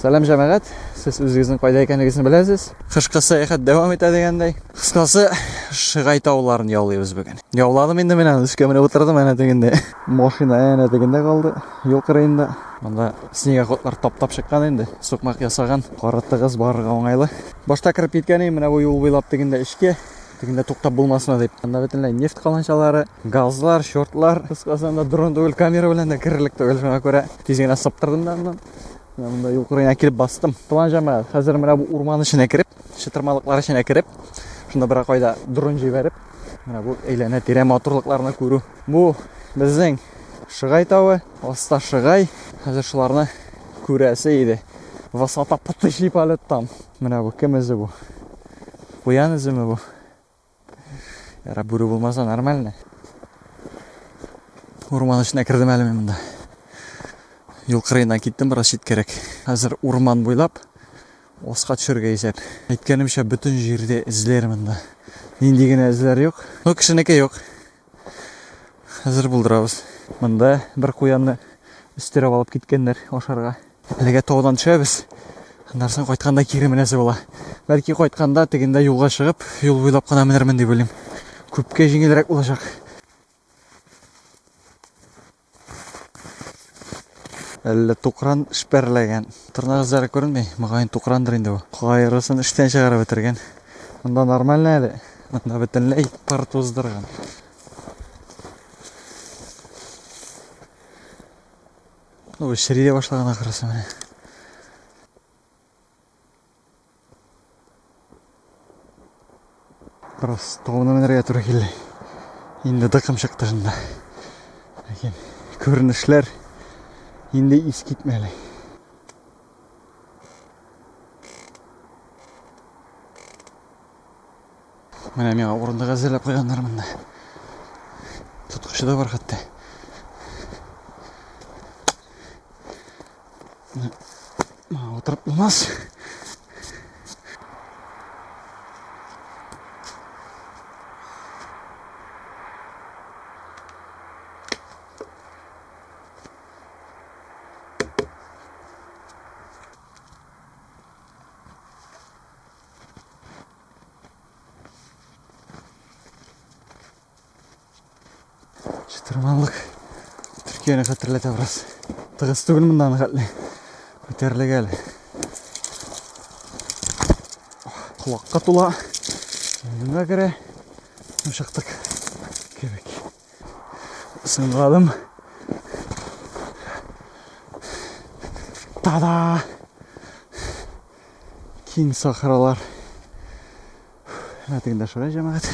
Сәлам җәмәгать, сез үзегезнең кайда икәнегезне беләсез. Кышкы сәяхәт дәвам итә дигәндәй. Кыскасы, Шыгай тауларын яулыйбыз бүген. Яуладым инде менә, өскә менеп утырдым әнә тегендә. Машина әнә тегендә калды, юл кырыенда. Монда снегоходлар таптап чыккан инде, сукмак ясаган, кары тыгыз, барырга уңайлы. Башта кереп киткән идем менә бу юл буйлап тегендә эчкә. Тегендә туктап булмасына дип. Анда бөтенләй нефть каланчалары, газлар, шортлар. Кыскасы анда дрон түгел, камера белән дә керерлек түгел. Шуңа күрә тиз генә сыптырдым да аннан. Менә монда юл кырыена килеп бастым. План җәмәгать, хәзер менә бу урман эченә кереп, чытырмалыклар эченә кереп, шунда бер кайда дрон җибәреп, менә бу әйләнә тирә матурлыкларны күрү. Бу безнең Шыгай тавы, аста Шыгай. Хәзер шуларны күрәсе иде. Высота потыщий полет там. Менә бу кем эзе бу? Куян өземе бу? Ярап бүре булмаса нормально. Урман эченә кердем әле мин монда. Юл кырыена киттем бераз читкәрәк. Хәзер урман буйлап оска төшергә исәп. Әйткәнемчә, бөтен җирдә эзләр монда. Нинди генә эзләр юк. Ну, кешенеке юк. Хәзер булдырабыз. Монда бер куянны өстерәп алып киткәннәр ашарга. Әлегә таудан төшәбез. Аннан соң кайтканда кире менәсе була. Бәлки кайтканда тегендә юлга чыгып, юл буйлап кына менермен дип уйлыйм. Күпкә җиңелрәк булачак. Әллә тукран шпәрләгән. Тырнак эзләре күренми. Мөгаен тукрандыр инде бу. Кайрысын эштән чыгарып бетергән. Монда нормально әле. Монда бөтенләй пар туздырган. Ну, чери дә башлаган ахрысы менә. Просто оны менәргә туры килде. Инде дыкым чыкты шунда. Ләкин күренешләр инде ис китмәле. Менә миңа урындык әзерләп куйганнар монда. Тоткычы да бар хәтта. Мага утырып булмас. Чытырманлык Төркияне хәтерләтә бераз. Тыгыз түгел мондан хәтле. Күтәрелек әле. Колакка тула. Миңа керә. Чыктык. Кебек. Сынладым. Тада! Киң сахралар. Әтегендә шырай жәмәгать.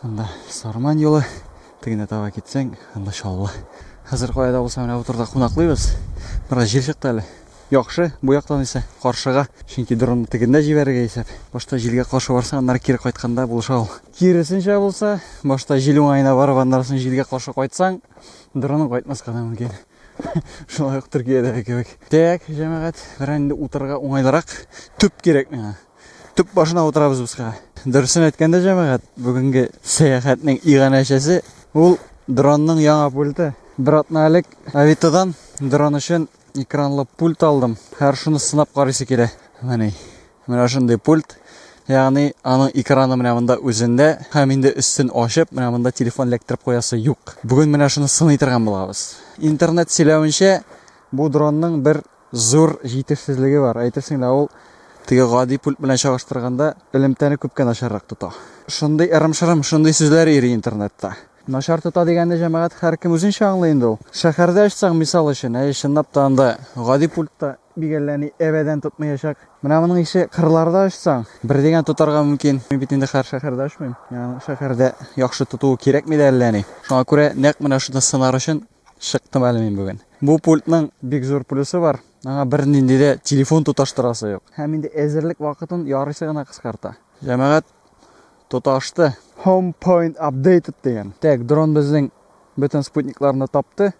Анда Сарман юлы. Тегенә таба китсәң, анда Чаллы. Хәзер каяда булса менә бу турда кунаклыйбыз. Бераз җил чыкты әле. Яхшы, бу яктан исә каршыга, чөнки дронны тегендә җибәрергә исәп. Башта җилгә каршы барса, аннары кире кайтканда булыша ул. Киресенчә булса, башта җил уңаена барып, аннары соң җилгә каршы кайтсаң, дроның кайтмаска да мөмкин. Шулай ук Төркиядәге кебек. Так, җәмәгать, берәр инде утырырга уңайлырак төп кирәк миңа. Төп башына утырабыз без кара. Дөресен әйткәндә, җәмәгать, бүгенге сәяхәтнең иганәчесе ул дронның яңа пульты. Бер атна элек Авитодан дрон өчен Экранлы пульт алдым. Һәр шуны сынап карыйсы килә. Менә менә шундый пульт. Ягъни аның экраны менә монда үзендә һәм инде өстен ачып, менә монда телефон эләктереп куясы юк. Бүген менә шуны сыный торган булабыз. Интернет сөйләвенчә, бу дронның бер зур җитешсезлеге бар. Әйтерсең лә ул теге гади пульт белән чагыштырганда элемтәне күпкә начаррак тота. Шундый ырым-шырым, шундый сүзләр йөри интернетта. Начар тота дигәнне җәмәгать һәркем үзенчә аңлый инде ул. Шәһәрдә ачсаң, мисал өчен, әйе, чынлап та анда гади пультта бик әллә ни әбәдән тотмаячак. Менә моның ише кырларда ачсаң, бер дигән тотарга мөмкин. Мин бит инде хәзер шәһәрдә ачмыйм. Янг шәһәрдә яхшы тотуы кирәкми дә әллә ни. Шуңа күрә нәкъ менә шуны сынар өчен чыктым әле мин бүген. Бу пультның бик зур плюсы бар, аңа бернинди дә телефон тоташтырасы юк. Һәм инде әзерлек вакытын ярыйсы гына кыскарта. Җәмәгать тоташты. Home point updated дигән. Так, дрон безнең бөтен спутникларны тапты.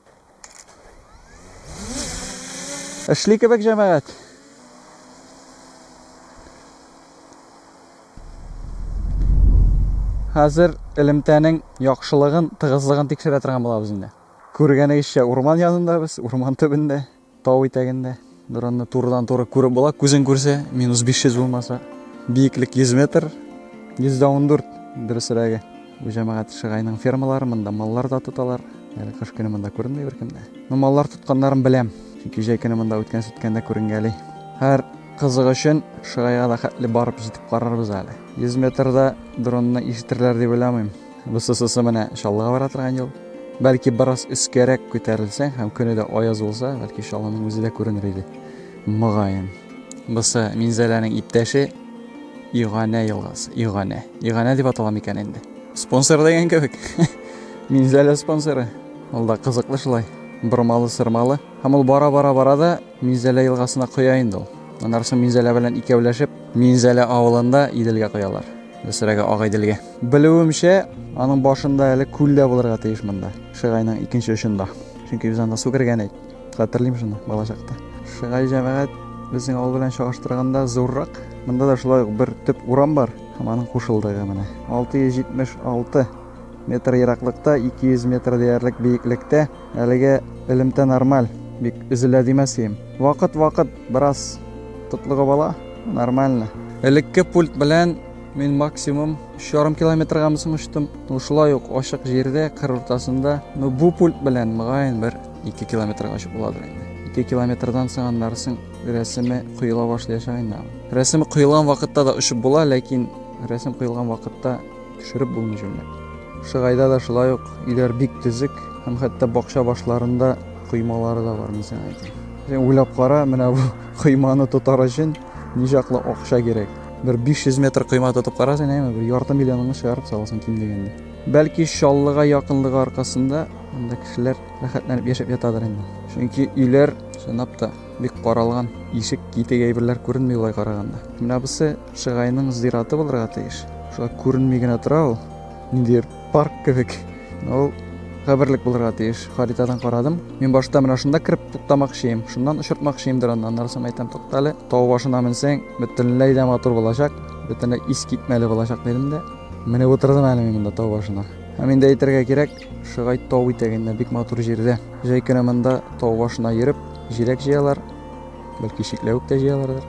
Эшли кебек җәмәгать. Хәзер элемтәнең яхшылыгын, тыгызлыгын тикшерә торган булабыз инде. Күргәнегезчә, урман янында без, урман төбендә. Тау итәгендә дронны турыдан-туры күреп була, күзең күрсә, минус 500 булмаса. Биеклек 100 метр, 114 дөресрәге. Бу җәмәгать Шыгайның фермалары, монда маллар да тоталар. Әле кыш көне монда күренми беркемдә. Ну, маллар тотканнарын беләм, чөнки җәй көне монда үткән-сүткәндә күренгәли. Һәр кызык өчен Шыгайга да хәтле барып җитеп карарбыз әле. 100 метрда дронны ишетерләр дип уйламыйм. Бу сосысы менә чаллыга бара торган юл. Бәлки бераз өскәрәк күтәрелсәң һәм көне дә аяз булса, бәлки чаллының үзе дә күренер иде. Мөгаен. Бусы Минзәләнең иптәше Иганә елгасы. Иганә. Иганә дип атала микән инде? Спонсор дигән кебек. Минзәлә спонсоры. Ул да кызыклы шулай. Бормалы, сырмалы. Һәм ул бара-бара бара да Минзәлә елгасына коя инде ул. Аннары соң Минзәлә белән икәүләшеп, Минзәлә авылында Иделгә коялар. Дәсрәгә агай дилгә. Белүемчә, аның башында әле күл дә булырга тиеш монда. Шыгайның икенче очында. Чөнки без анда су кергән ик. Хәтерлим шуны балачакта. Шыгай җәмәгать безнең авыл белән чагыштырганда зуррак. Монда да шулай ук бер төп урам бар һәм аның кушылдыгы менә. 676 метр ераклыкта, 200 метр диярлек биеклектә Әлеге элемтә нормаль, бик өзелә димәс ием. Вакыт-вакыт бераз тотлыгып ала, нормально. Элекке пульт белән мин максимум 3,5 километргамы соң очтым. Ну шулай ук ачык җирдә, кыр уртасында. Ну бу пульт белән мөгаен бер 2 километрга очып буладыр инде. 2 километрдан соң аннарысын рәсеме коела башлаячак инде. Рәсеме коелган вакытта да очып була, ләкин рәсем коелган вакытта төшереп булмый җүнләп. Шыгайда да шулай ук өйләр бик төзек һәм хәтта бакча башларында коймалары да бар, мин сиңа әйтим. Син уйлап кара, менә бу койманы тотар өчен ничаклы акча кирәк. Бер 500 метр койма тотып карасаң, әйме, бер ярты миллионыңны чыгарып саласың ким дигәндә. Бәлки Чаллыга якынлыгы аркасында анда кешеләр рәхәтләнеп яшәп ятадыр инде. Чөнки өйләр чынлап та бик каралган, ишек, китек әйберләр күренми улай караганда. Менә бусы Шыгайның зираты булырга тиеш. Шулай күренми генә тора ул. Ниндидер парк кебек. Ул каберлек булырга тиеш. Харитадан карадым. Мин башта менә шунда кереп туктамакчыйм. Шуннан очыртмакчыйм дөрән. Аннары соң әйтәм, туктале. Тау башына менсәң, бөтенләй дә матур булачак. Бөтенләй ис китмәле булачак дидем дә. Менеп утырдым әле мин монда тау башына. Һәм инде әйтергә кирәк, Шыгай тау итәгендә бик матур җирдә. Җәй көне монда тау башына йөреп, җиләк җыялар. Бәлки чикләвек тә җыялардыр.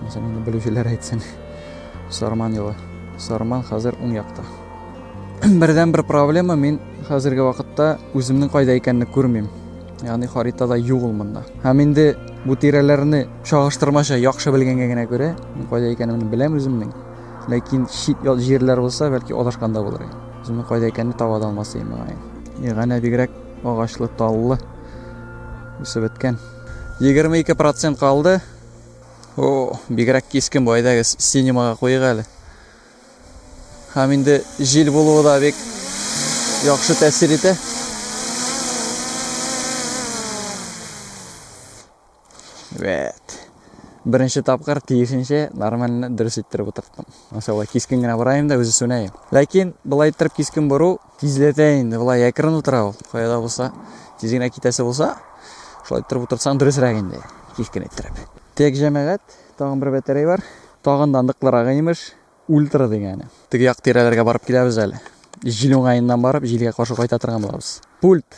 Мәсәлән, инде белүчеләр әйтсен. Сарман елы. Сарман хәзер уң якта. Бердән бер проблема мин хәзерге вакытта үземнең кайда икәнне күрмим. Ягъни харитада юк ул монда. Һәм инде бу тирәләрне чагыштырмача яхшы белгәнгә генә күрә, мин кайда икәнемне беләм үземнең. Ләкин чит җирләр булса, бәлки адашканда булыр идем. Үземнең кайда икәнне таба да алмас идем. Ягъни бигрәк агачлы, таллы үсеп беткән. 22 процент калды. О, бигрәк кискен бу, әйдәгез, синемага куйык әле. Һәм инде җил булуы да бик яхшы тәэсир итә. Вәт. Беренче тапкыр тиешенчә нормально дөрес иттереп утырттым. Мәсәлән, кискен генә барайым да үзе сүнәем. Ләкин былай иттереп кискен бору Тизләтә инде, болай әкрен утыра ул. Кая да булса, тиз генә китәсе булса, шулай торып утырсаң дөресрәк инде, кискен иттереп. Тек җәмәгать, тагын бер бәтәрәй бар. Тагын да ныклырагы имеш, ультра дигәне. Теге як тирәләргә барып киләбез әле. Җил уңаеннан барып, җилгә каршы кайта торган булабыз. Пульт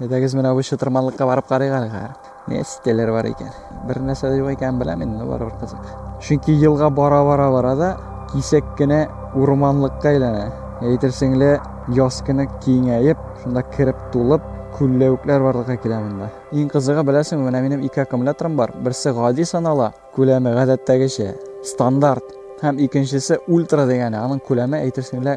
Әйдәгез менә бу чытырманлыкка барып карыйк әле хәзер. Не стеллер бар икән. Бер нәрсә дә юк икән беләм инде, барыбер кызык. Чөнки елга бара-бара бара да кисәк кенә урманлыкка әйләнә. Әйтерсең лә яз көне киңәеп, шунда кереп тулып, күлләвекләр барлыкка килә монда. Иң кызыгы беләсеңме, менә минем ике аккумуляторым бар. Берсе гади санала, Күләме, гадәттәгечә, стандарт һәм икенчесе ультра дигәне, аның күләме әйтерсең лә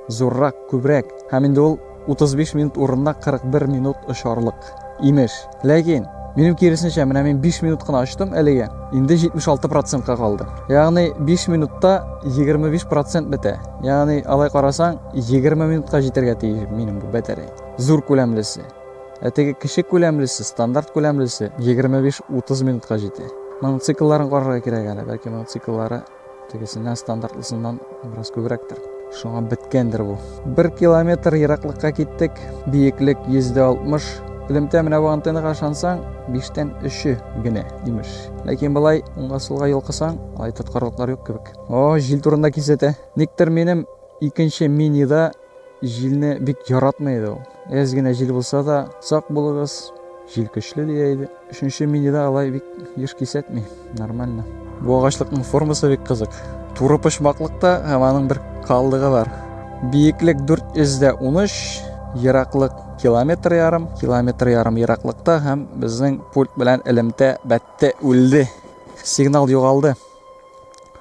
зуррак, күбрәк, һәм инде ул 35 минут урынына 41 минут очарлык, имеш. Ләкин, минем киресенчә, менә мин 5 минут кына очтым әлегә, инде 76 процентка калды. Ягъни 5 минутта 25 процент бетә. Ягъни, алай карасаң, 20 минутка җитәргә тиеш минем бу батарея, зур күләмлесе. Ә теге кече күләмлесе, стандарт күләмлесе 25-30 минутка җитә. Моның циклларын карарга кирәк әле, бәлки моның цикллары тегесеннән стандартлысыннан бераз күбрәктер. Шуңа беткәндер бу. Бер километр ераклыкка киттек, биеклек 160. Элемтә менә бу антеннага ышансаң, биштән өче генә, имеш. Ләкин былай уңга-сулга йолкысаң, алай тоткарлыклар юк кебек. О, җил турында кисәтә. Никтер минем икенче минида җилне бик яратмый иде ул. Әз генә җил булса да, сак булыгыз, җил көчле дия иде. Өченче минида алай бик еш кисәтми, нормально. Бу агачлыкның формасы бик кызык. Туры почмаклыкта һәм аның бер калдыгы бар. Биеклек 413, ераклык километр ярым, километр ярым ераклыкта һәм безнең пульт белән элемтә бәтте үлде. Сигнал югалды.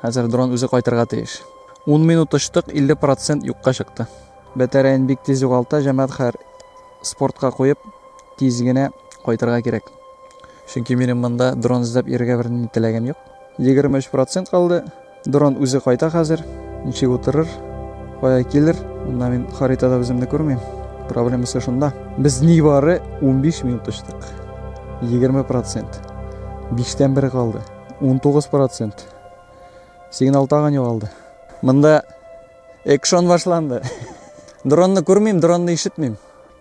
Хәзер дрон үзе кайтырга тиеш. 10 минут очтык, 50% юкка чыкты. Бәтәрәен бик тиз югалта, җәмәгать хәр спортка куеп, тиз генә кайтырга кирәк. Чөнки минем монда дрон эзләп йөрергә бернинди теләгем юк. 23% калды. Дрон үзе кайта хәзер. Ничек утырыр? Кая килер? Монда мин харитада үземне күрмим. Проблемасы шунда. Без нибары 15 минут очтык. 20%. Биштән бер калды. 19 процент. Сигнал тагын югалды. Мында экшон башланды. Дронны күрмим, дронны ишетмим.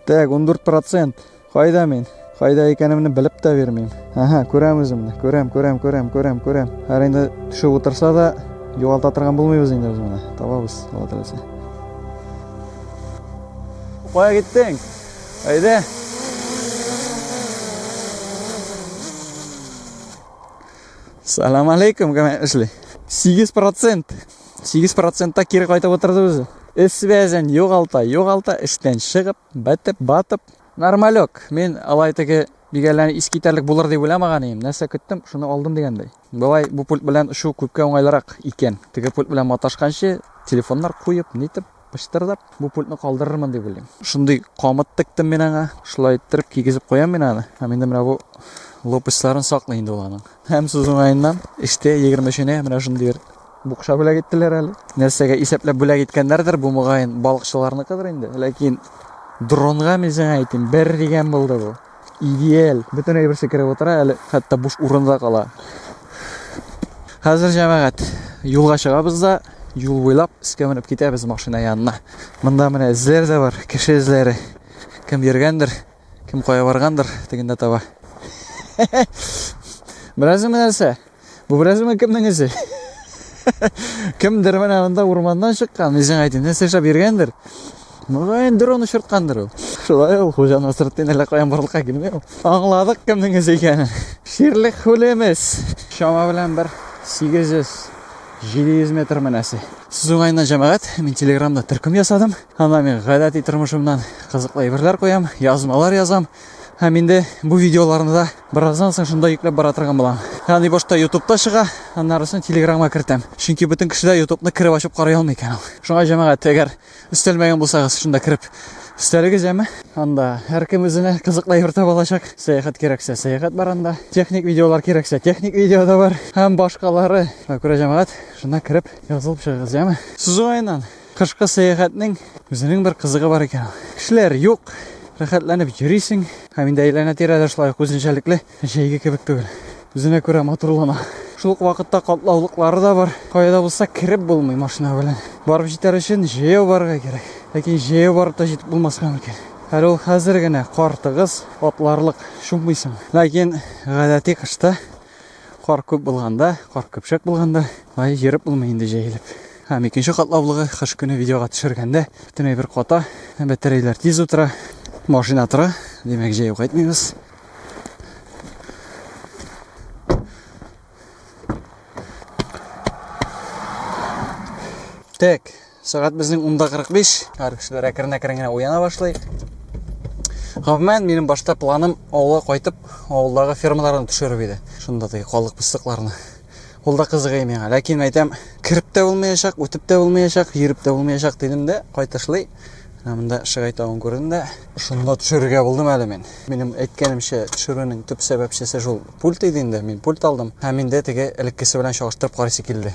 Так, 14 процент. Кайда мин? Кайда икәнемне белеп тә бирмим. Ага, күрәм үземне. Күрәм, күрәм, күрәм, күрәм, күрәм. Һәр инде төшеп утырса да, югалта торган булмыйбыз инде без моны. Табабыз, Алла теләсә. Кая киттең? Әйдә. Салам алейкум, кәмәк эшли. 8 процент. 8 процентта кире кайтып отырды үзе. Эс бәзен югалта, югалта, эштән чыгып, бәтеп, батып. Нормалек. Мин алай теге бигәләне искитәрлек булыр дип уйламаган идем. Нәрсә көттем, шуны алдым дигәндәй. Болай бу пульт белән шул күпкә уңайлырак икән. Теге пульт белән маташканчы телефоннар куеп, нитеп, пычтырдап бу пультны калдырырмын дип уйлыйм. Шундый камыт тектем мин аңа. Шулай иттереп кигезеп куям мин аны. Һәм инде менә бу лопастьларын саклый инде ул аның. Һәм сүз уңаеннан, эштә 23-нә менә шундый бер букша бүләк иттеләр әле. Нәрсәгә исәпләп бүләк иткәннәрдер, бу мөгаен балыкчыларныкыдыр инде. Ләкин дронга мин сиңа әйтим, бер дигән булды бу. Идеаль. Бөтен әйберсе кереп утыра, әле хәтта буш урын да кала. Хәзер җәмәгать юлга чыгабыз да юл буйлап өскә менеп китәбез машина янына. Монда менә эзләр дә бар, кеше эзләре. Кем йөргәндер, кем кая баргандыр, тегендә таба. Бераз нәрсә? Бу берәзме кемнең эше? Кемдер менә монда урманнан чыккан, үзең әйтин, нәрсә эшләп йөргәндер. Мөгаен дрон очырткандыр ул. Шулай ул хуҗаны сырттын әллә каян барлыкка килми ул. Аңладык кемнең эше икәнен. Ширлек хулемес. Чама белән бер 800 700 метр мәнәсе. Сез уңайыннан җәмәгать, мин телеграмда төркем ясадым. Анда мин гадәти тормышымнан кызыклы әйберләр куям, язмалар язам. Һәм инде бу видеоларны да бераздан соң шунда йөкләп бара торган булам. Ягъни башта ютубта чыга, аннары соң телеграмга кертәм. Чөнки бөтен кеше дә ютубны кереп ачып карый алмый икән ул. Шуңа җәмәгать, әгәр өстәлмәгән булсагыз, шунда кереп өстәлегез яме. Анда һәркем үзенә кызыклы әйбер таба алачак. Сәяхәт кирәксә, сәяхәт бар анда. Техник видеолар кирәксә, техник видео да бар. Һәм башкалары. Шуңа күрә җәмәгать, шунда кереп язылып чыгыгыз, яме. Сызу айынан. Кышкы сәяхәтнең үзенең бер кызыгы бар икән. Кешеләр юк, рәхәтләнеп йөрисең. Һәм инде әйләнә-тирә дә шулай ук үзенчәлекле, җәйге кебек түгел. Үзенә күрә матурлана. Шул ук вакытта катлаулыклары да бар. Кая да булса кереп булмый машина белән. Барып җитәр өчен җәяү барырга кирәк. Ләкин җәяү барып та җитеп булмаска мөмкин. Әле ул хәзер генә кар тыгыз, атларлык, чуммыйсың. Ләкин гадәти кышта. Кар күп булганда, кар көпшәк булганда, ай йөреп булмый инде җәелеп. Һәм икенче катлаулыгы кыш көне видеога төшергәндә бөтен әйбер ката, бәтәрәйләр тиз утыра, машина тора, димәк җәю кайтмыйбыз. Так, Сәгать безнең унда кырык биш. Һәр кешеләр әкрен әкрен генә уяна башлый. Гомумән, минем башта планым авылга кайтып, авылдагы фермаларны төшереп иде. Шунда теге калык пысыкларны. Ул да кызыгый миңа. Ләкин әйтәм, кереп тә булмаячак, үтеп тә булмаячак, йөреп тә булмаячак дидем дә, кайтышлый. Монда Шыгай тавын күрдем дә, шунда төшерергә булдым әле мин. Минем әйткәнемчә, төшерүнең төп сәбәпчесе шул пульт иде инде. Мин пульт алдым. Һәм инде теге элеккесе белән чагыштырып карыйсы килде.